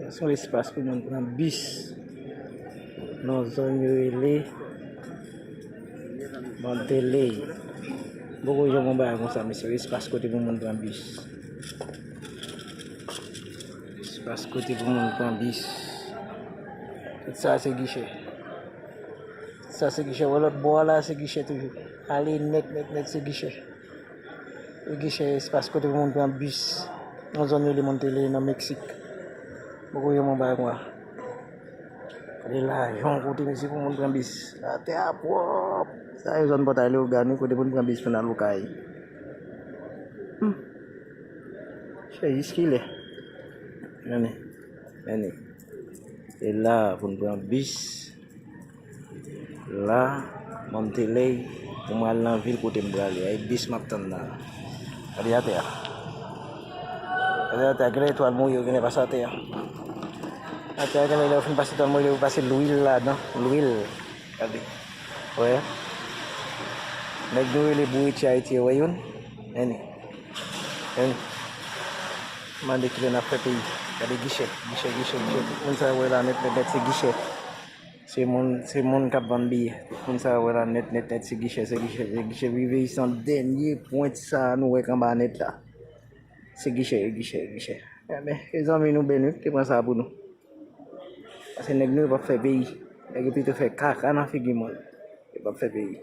Sa son espas pou moun pran bis nan zòn yo rele Monteley. M poko janm wè yon bagay konsa mesye yo, espas kote pou moun pran bis. Espas kote pou moun pran bis. Tout sa se gichè. Tout sa se gichè. Wè lòt bò a la se gichè toujou. Ale nèt nèt nèt se gichè. Yon gichè espas kote moun pran bis nan zòn rele Montele nan Meksik. Poko gen moun bay mwa. Kote lajan kote mesye pou moun pran bis. Atè a pwòp. Sa se zòn Pòtay Leyogàn wi kote moun pran bis pou n al Okay. Se jiskilè? Anne. Anne. Se la pou n pran bis. La, mwen mete lèy pou mwen al nan vil kote m prale a. E bis m ap tann nan. Gade atè a. Gade atè a. Gen lè etwal mouye, gen lè pase atè a. Atè a gen lè lè ou fin pase etwal mouye, ou pase lwil ladan. Lwil. Gade. Wè. Nèg nou rele bouriti Ayiti yo wè youn. Eni. Eni. Mande ki lè n ap fè peyi. Gade gichè. Gichè, gichè, gichè. Tout moun sa yo wè la nèt nèt nèt se gichè. Se moun se moun kap vann biyè tout moun sa yo wè la nèt nèt nèt se gichè se gichè se gichè Viveisan dènye pwent sa nou wè k anba nèt la se gichè e gichè e gichè enben e zanmi nou Benou ki te pran sa pou nou pase nèg nou yo pap fè peyi nèg yo pito fè kaka nan figi moun yo pap fè peyi.